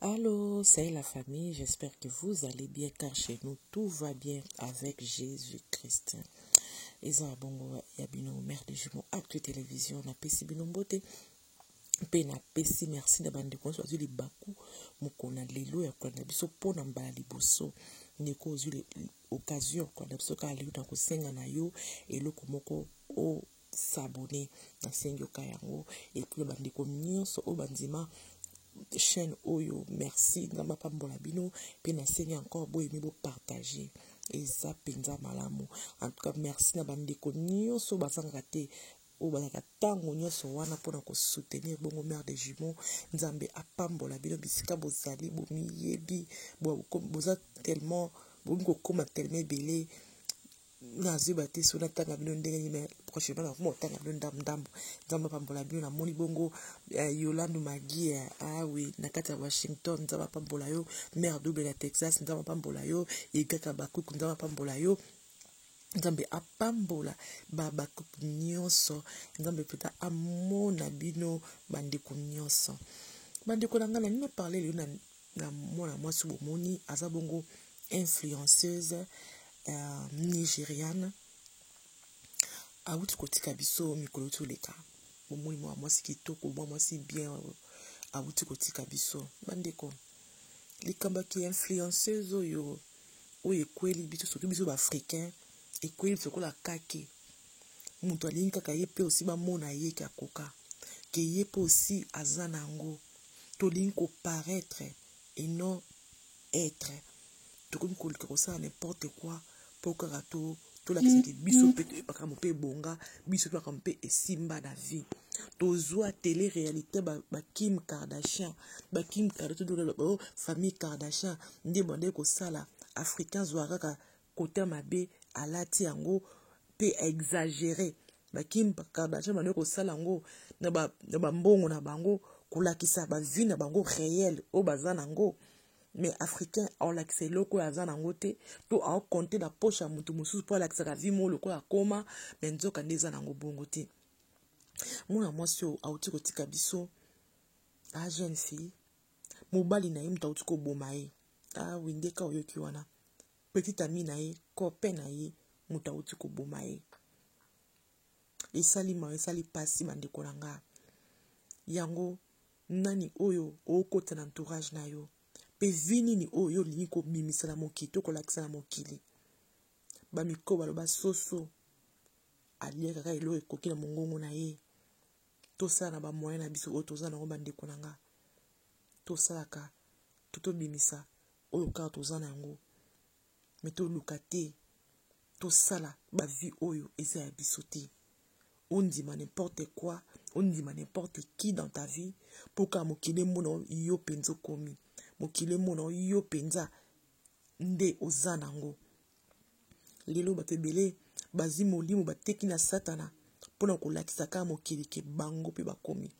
Allô, c'est la famille, j'espère que vous allez bien car chez nous tout va bien avec Jésus-Christ. eza ya bongo ya bino mare de jumeau actu télévision napesi bino mbote mpe napesi merci na bandeko nyonso bazwi libaku mokolo na lelo ya kolanda biso mpo na mbala liboso ndeko ozwi occasion ya kolanda biso kaka lelo na kosenga na yo eloko moko o s'abonner nasengi yoka yango epuis ya bandeko nyonso oyo bandima chaîne oyo merci nzambe apambola bino mpe nasengi encore boyemi bopartage eza mpenza malamu en tout cas merci na bandeko nyonso bazangaka te oyo bazalaka ntango nyonso wana mpona kosoutenir bongo mare de jumeau nzambe apambola bino bisika bozali bomiyebi boza tellement bokomi kokoma tellement ebele nazwi ba te soki natanga bino ndenge nini mais prochainement nakoma kotanga bino ndambu ndambu nzambe apambola bino namoni bongo eh, yolande magie eh, awe ah na kati ya washington nzambe apambola yo mare double ya texas nzambe apambola yo egaka bakuku nzambe apambola yo nzambe apambola babakuku nyonso nzambe mpenza amona bino bandeko nyonso bandeko na ngai na nini aparle lelo na na mwana mwasi bomoni aza bongo influenceuse uh, nigeriane awuti kotika biso mikolo toleka bomoni mwana mwasi kitoko mwana mwasi bien awuti kotika biso bandeko likambo ya kiinfluenceuse oyo oyo ekweli biso soki biso baafricain ekweli biso lokola kake moto alingi kaka ye mpe osi bamona ye ke akoka ke ye mpe osi aza na yango Tolingi ko paraitre et non etre. Tokomi koluka kosala n'importe quoi po kaka to tolakisa ke biso mpe toyebi makambo mpe ebonga biso mpe makambo mpe esimba na vie tozwa tele réalité bakim ba kardashian bakim kardashian famille kardashian nde bandaki kosala africain zwa kaka Kotin mabe alati yango pe a exagere ba Kim Kardashian bande kosala yango na ba na ba mbongo na bango kolakisa ba vie na bango reelle oyo baza na yango mais africain aolakisa eloko oyo aza na yango te to aokonte na poche ya moto mosusu mpo alakisaka vi mo lokola akoma me nzoka nde eza na yango bongo te mwana mwasi oyo auti kotika biso a jeune fille mobali na ye moto auti koboma ye ah oui nde ka oyoki wana petit ami na ye copain na ye moto awuti koboma ye esali mawa esali mpasi bandeko na nga yango nani oyo okota na entourage na yo mpe vi nini oyo olingi kobimisa na mokili to kolakisa na mokili bamikro baloba soso aliaka kaka eloko ekoki na mongongo na ye tosala na bamoyen na biso oyo toza na yango bandeko na nga tosalaka to tobimisa oyo kaka toza na yango me toluka te tosala bavie oyo eza ya biso te ondima n'importe quoi ondima n'importe qui dans ta vie mpo kaka mokili emona yo mpenza okomi mokili emona yo mpenza nde oza nango lelo bato ebele bazwi molimo bateki na satana mpo na kolakisa kaka mokili ke bango mpe bakomi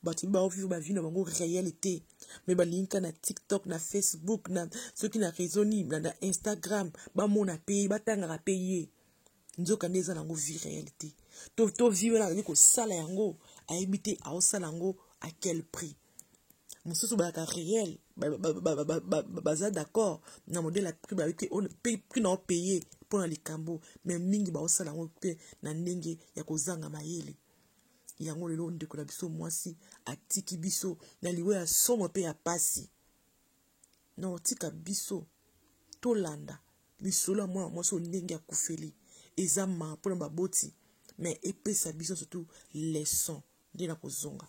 bato mibao vive ba vie na bango réel te me balingi ka na tiktok na facebook na soki na réseau nini na, na instagram bamona mpe ye batangaka mpe ye nzoka nde eza nango vie réel te to to vie wana azali kosala yango ayebi te aosala yango à quel prix mosusu bayaka réel baza d'accord na modèle ya prix bayebi te prix na opaye mpo na likambo me mingi baosala yango mpe na ndenge ya kozanga mayele yango lelo ndeko na biso mwasi atiki biso na liwa ya somo mpe ya pasi na otika biso tolanda lisolo ya mwana mwasi oyo ndenge akufeli eza maa mpo na baboti me epesa biso surtout leson nde na kozonga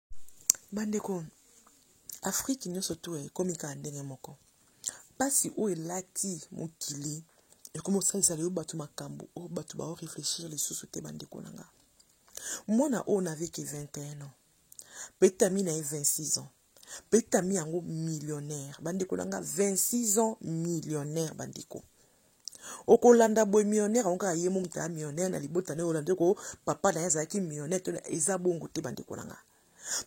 bandeko afrike nyonso to ekomi kaka ndenge moko mpasi oyo elati mokili ekomi kosalisa lelo bato makambo oyo bato bao réfléchir lisusu te bandeko na nga mwana oyo naveke 21 ans petit ami na ye 26 ans petit ami yango millionnaire bandeko na nga 26 ans millionnaire bandeko okolanda boye millionnaire yango kaka ye momuta ya millionnaire na libota na ye olanda ko papa na ye azalaki millionnaire to eza bongo te bandeko na nga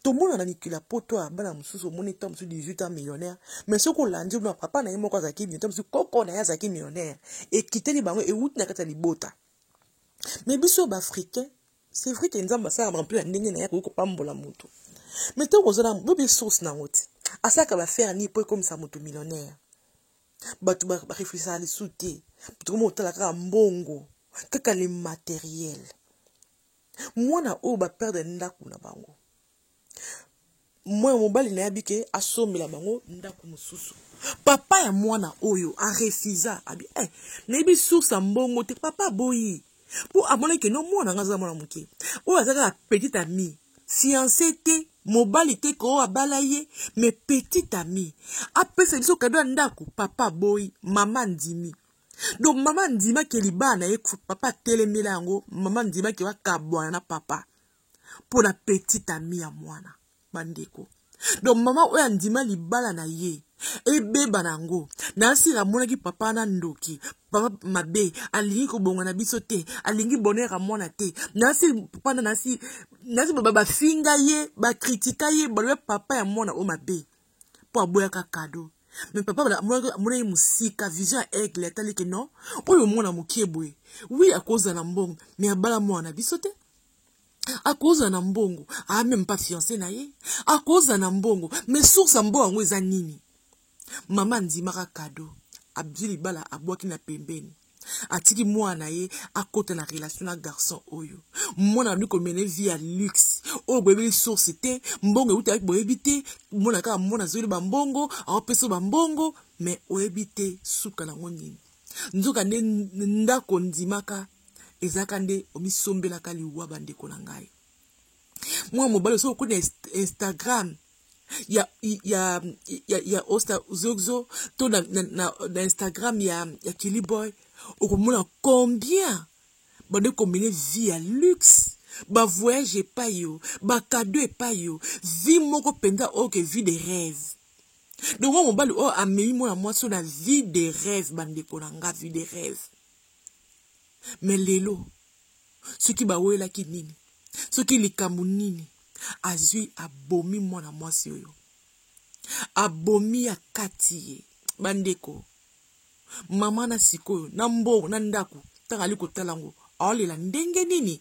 tomona na mikili ya poto ya bana mosusu omoni ntango mosusu 18 ans millionnaire mais soki olandi na papa na ye moko azalaki millionnaire mosusu koko na ye azalaki millionnaire ekiteli bango ewuti na kati ya libota mais biso baafricain c'est vrai ke nzambe asalaka bantu ya ndenge na ye akoki kopambola motu mais ntango ozala boyebi source na yango te asalaka bafere nini mpo ekomisa motu millionnaire bato bareflechaka lisusu te bato koma kotala kaka mbongo kaka le materiel mwana oyo baperdre ndako na bango mwana mobali na ye abike asombela bango ndako mosusu papa ya mwana oyo arefusa abi eh, nayebi source ya mbongo te papa aboyi mpo amonaki keno mwana ngai aza mwana moke oyo aza kaka petit ami fianse te mobali te ko abala ye me petit ami apesa biso kado ya ndako papa aboyi mama andimi donc mama andimaki libala na ye papa atelemela yango mama andimaki bakabwana na papa mpo na petit ami ya mwana bandeko donc mama oyo andima libala na ye ebeba na yango nasila amonaki papa na ndoki papa mabe alingi kobonga na biso te alingi bonheur ya mwana te nasi papa na nasi nasi bafinga ye bakritika ye baloba papa ya mwana oyo mabe mpo aboyaka kado me papa amonaki mosika vision ya aigle atali ke non oyo mwana mokie boye wi akozala mbongo me abala mwana na biso te akoza na mbongo a meme pas fiance na ye akoza na mbongo mais source ya mbongo yango eza nini mama andimaka kado abdi libala abwaki na pembeni atiki mwana na ye akota na relation na garçon oyo mwana abandi komene vie ya luxe oyo boyebi source te mbongo eutaki boyebi te mona kaka mwana azweli bambongo aopesa bambongo me oyebi te suka nango nini nzoka nde ndako ndimaka ezalaka nde omisombelaka liwa bandeko na ngai mwana mobali ozo okona instagram ya ya ya, ya osta zogzo to na, na, na, na instagram ya, ya kiliboy okomona combien bande komene vie ya luxe bavoyage epai yo bakado epai yo vie moko mpenza oyo ke vie de rêve dongo mobali oyo amemi mwana mwasi oyo na vie de rêve bandeko na nga vie de rêve me lelo soki bawelaki nini soki likambo nini azwi abomi mwana mwasi oyo abomi ya kati ye bandeko mama na sikoyo na mbo na ndako ntango ali kotala yango aolela ndenge nini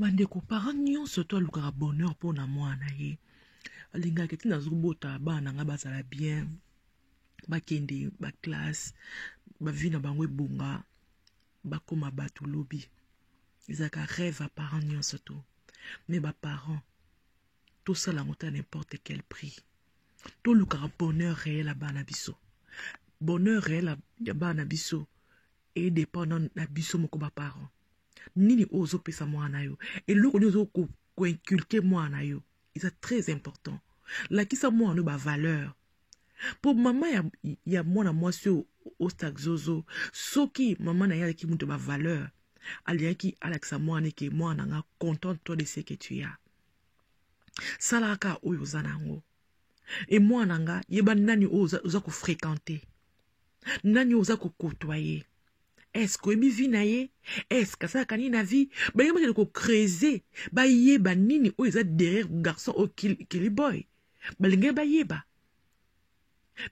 bandeko parent nyonso to alukaka bonheur mpo na mwana na ye alingaka ete nazobota bana na ngai bazala bien bakende baklasse bavi na bango ebonga bakoma bato lobi ezalaka rêve ya parent nyonso to me baparent tosala yango ta n'importe quel prix tolukaka bonheur réel ya bana biso bonheur réel ya bana biso e dépend na, na biso moko ba parents nini oyo ozopesa mwana na yo eloko nini ozo koinculke mwana na yo eza très important lakisa mwana yo bavaleur mpo mama ya, ya mwana mwasi oyo ostak zozo soki mama na ye alaki moto bavaleur alingaki alakisa mwana eke mwana na nga contente toi de ce que tu as salaka oyo oza na yango e mwana nga yeba nani oyo oza, oza kofréquente nani oza kokotwa ye eske oyebi vi na ye eske asalaka nini na vi balingi bakende kocrese bayeba nini oyo eza derrière garçon oyo kiliboy balingi bayeba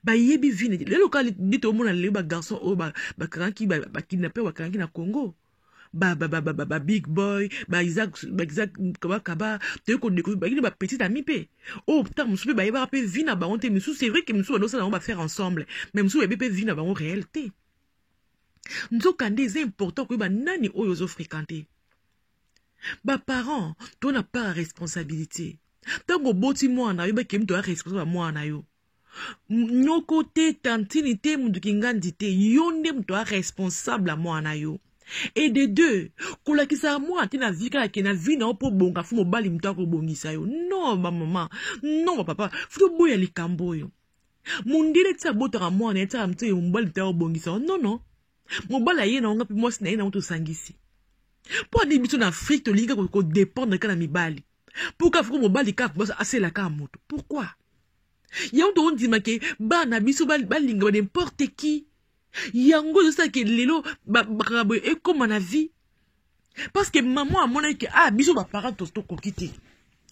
bayebi vi na lelo kaka nde tomona lelo bagarçon oyo bakangaki bakidnape bakangaki na congo ba ba ba ba ba ba, ba big boy ba Isaac ba Isaac kaba kaba toye ko découvrir ba kini ba petit ami pe oh tant musu pe ba yeba pe vie na bango te musu c'est vrai que musu ba dosa na ba faire ensemble mais musu ba yeba pe vie na bango réel te nzoka nde eza important koyeba nani oyo ozo fréquenter ba parents to na part responsabilité ntango oboti mwana oyebaki ye moto ya responsable ya mwana yo noko te tantini te moto kingandi te yo nde moto a responsable ya mwana yo et de deux kolakisa mwana te na vie kaka ke na vie na yo mpo obonga fo mobali moto akobongisa yo non bamama non bapapa fo toboya likambo oyo mondele ti abotaka mwana ye tiaka mito ye mobali moto akobongisa yo non non mobali aye na yo nga mpe mwasi na ye na yo tosangisi mpo adi biso na afrike tolingi kodependre kaka na mibali mpo kaka foko mobali kaka asela kaka moto pourquoi yango tokondima ke bana biso balinga ba n'importe qui yango ezosala ke lelo makambo boye ekóma na vie parce que mama amonaki ke ah biso baparent tokoki te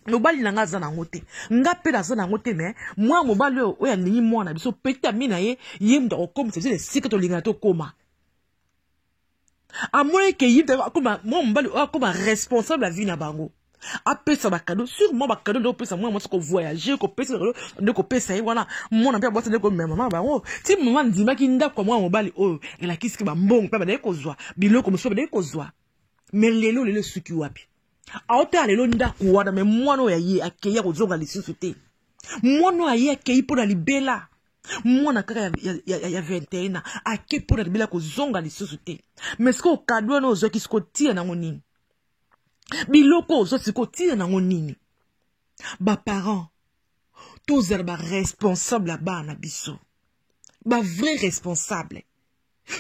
mobali na ngai aza na yango te ngai mpe naza na yango te me mwana mobali oyo oyo alingi mwana na biso petami na ye ye moto akokomisa biso na esika tolingana tokóma amonaki ke ye akoma mwa mobali oyo akoma responsable ya vie na bango apesa bakado sur mwa bakado nde kopesa mwana mwasi kovoyage kopesa bakado nde kopesa ye wana mwana mpe abwasa nde komema mama bango ti mama andimaki ndako ya mwana mobali oyo elakisi ke bambongo mpe abandaki kozwa biloko mosusu abandaki kozwa me lelo lelo esuki wapi aotala lelo ndako wana me mwana oyo ya ye akei akozonga lisusu te mwana oyo aye akei mpo na libela mwana kaka ya, ya, ya, ya 21 ans ake mpo na libela kozonga lisusu te mais sikoyo kado wana ozwaki sikoyo tia nango nini biloko ozwa sikoyo tia nango nini baparent tozala baresponsable ya bana na biso bavrai responsable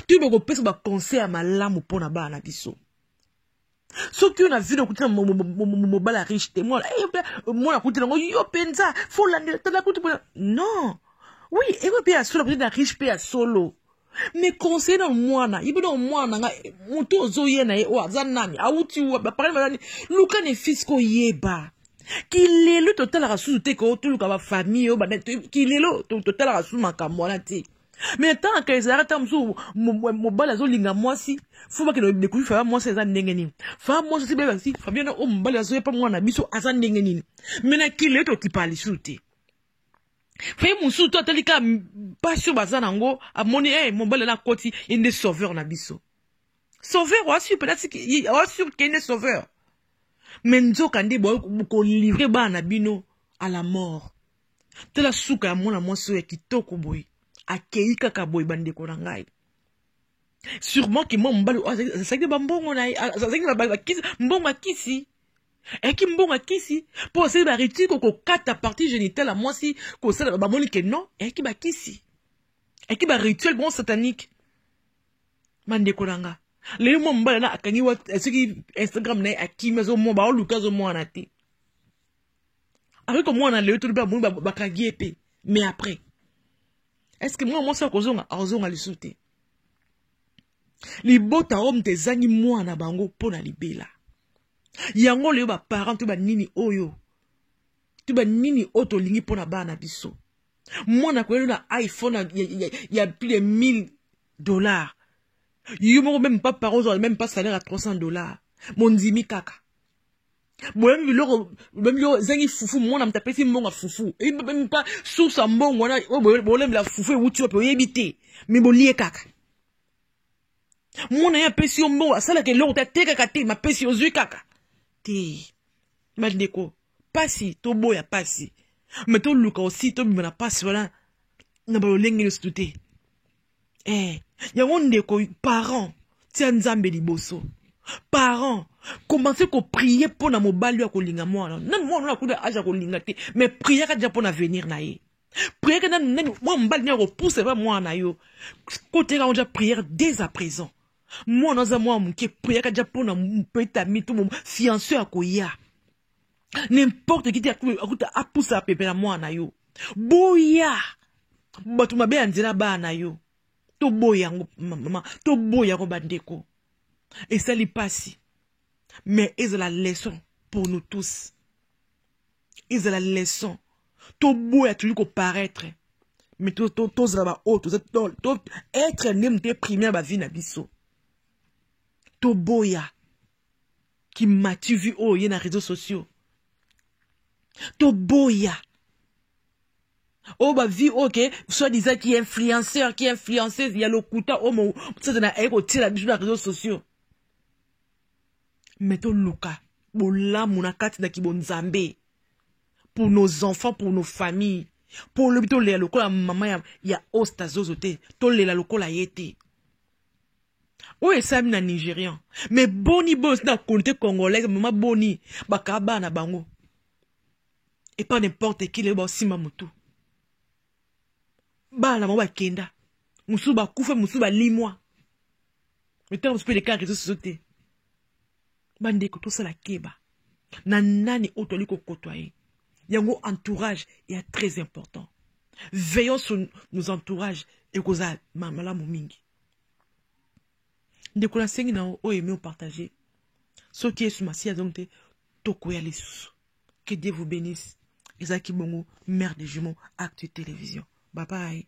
toyeba kopesa baconseil ya malamu mpo na bana na biso soki yo na vino okuti na mobala riche te mwana eh, eh, akuti nango yo mpenza folandela tala kutu mpona non oui eko mpe ya solo akuti na riche mpe ya solo me conseille na mwana yebi na mwana na nga moto ozoye na ye oyo aza nani awuti baparani bazani luka ne fils koyeba kilelo totalaka susu te ko toluka bafamille oyo kilelo totalaka susu makambo wana te mais ntanaka ezalaka ntango mosusu mobali azolinga mwasi fo bakende découvrir faya mwasi aza ndenge nini faya mwasi osi bebasi fabiana oyo oh, mobali azoyepa mwana na biso aza ndenge nini me na kilo ye tokipaka lisusu te faye mosusu to atali kaka mpasi oyo baza na yango amoni e eh, mobali na akoti ye nde sauveur na biso sauveur oasur peut-être oasur ke nde sauveur me nzoka nde bokolivre bana na bino à la mort tala suka ya mwana mwasi oyo ya kitoko boye akei kaka boye bandeko na ngai sûrement ke mwa mobali oyo azalaki na bambongo na ye azalaki na mbongo ya kisi ayaki mbongo ya kisi mpo asali baritire kokokata partie génitale ya mwasi kosala bamoni ke non ayaki bakisi ayaki barituel bon satanique bandeko na nga lelo mwa mobali na akangi soki instagram na ye akimi azomwa baoluka azomwana te akoki komona lelo tolobi amoni bakangi ye te mais après est ce que mwana mwasi akozonga akozonga lisusu te libota oyo moto ezangi mwana na bango mpo na libela yango leyo baparent to banini oyo to banini oyo tolingi mpo na bana biso mwana koyeli na iphone ya, ya, ya plus de 1000 dollars yo moko meme pa parent ozala meme pa salaire ya 300 dollars mondimi kaka boyembi biloko boyembi biloko ezangi fufu mwana moto apesi mbongo ya fufu mpa source ya mbongo wana oyo bolembela fufu ewuti wapi oyebi te me bolie kaka mwana ye apesi yo mbongo asalaka eloko te atekaka te mapesi ozwi kaka te bandeko mpasi toboya mpasi me toluka osi tobima na mpasi wana na balolenge nyonso te eh yango ndeko parent tia nzambe liboso parent commence koprie mpo na mobali oyo akolinga mwana nani mwana oyo akuta age akolinga te mais priaka deja mpo na avenir na ye priere nani nani mwana mobali nani akopusa epa mwana na yo koteka ngo deja priere dès à présent mwana aza mwana moke priaka deja mpo na mpetami to fianso akoya n'importe qui te akuta apusa pepe na mwana na yo boya bato mabe ya nzela bana na yo toboya yango mama toboya yango bandeko esali mpasi mais ezala leçon pour nous tous ezala leçon toboya tolingi koparaître mais tozala baoyo toza être nde moto eprime ya bavi na biso toboya kimati vu oyo ye na réseaux sociaux toboya oyo oh, bavi oyo oh, ke soit disant ki influenceur ki influenceuse ya lokuta oyo oh, mosatana aye kotiela biso na réseaux sociaux me toluka bolamu na kati na kibonzambe pour nos enfants pour nos familles mpo olobi tolela lokola mama ya, ya osta zozo te tolela lokola ye te oyo esalami na nigerian me boni boyo na konte congolaise mama boni bakaa bana bango epa nimporte kile oyo baosimba motu bana bango bakenda mosusu bakufa mosusu balimwa mitano mosusu mpe elekaka reseau soso te bandeko tosala keba na nani oyo toli kokotwa ye yango entourage ya très important veillons sur nos entourages ekozala malamu mingi ndeko nasengi na oyo emi opartage soki yesu masiya azongi te tokoya lisusu que dieu vous bénisse ezalaki bongo mère de jumeau actu télévision babaye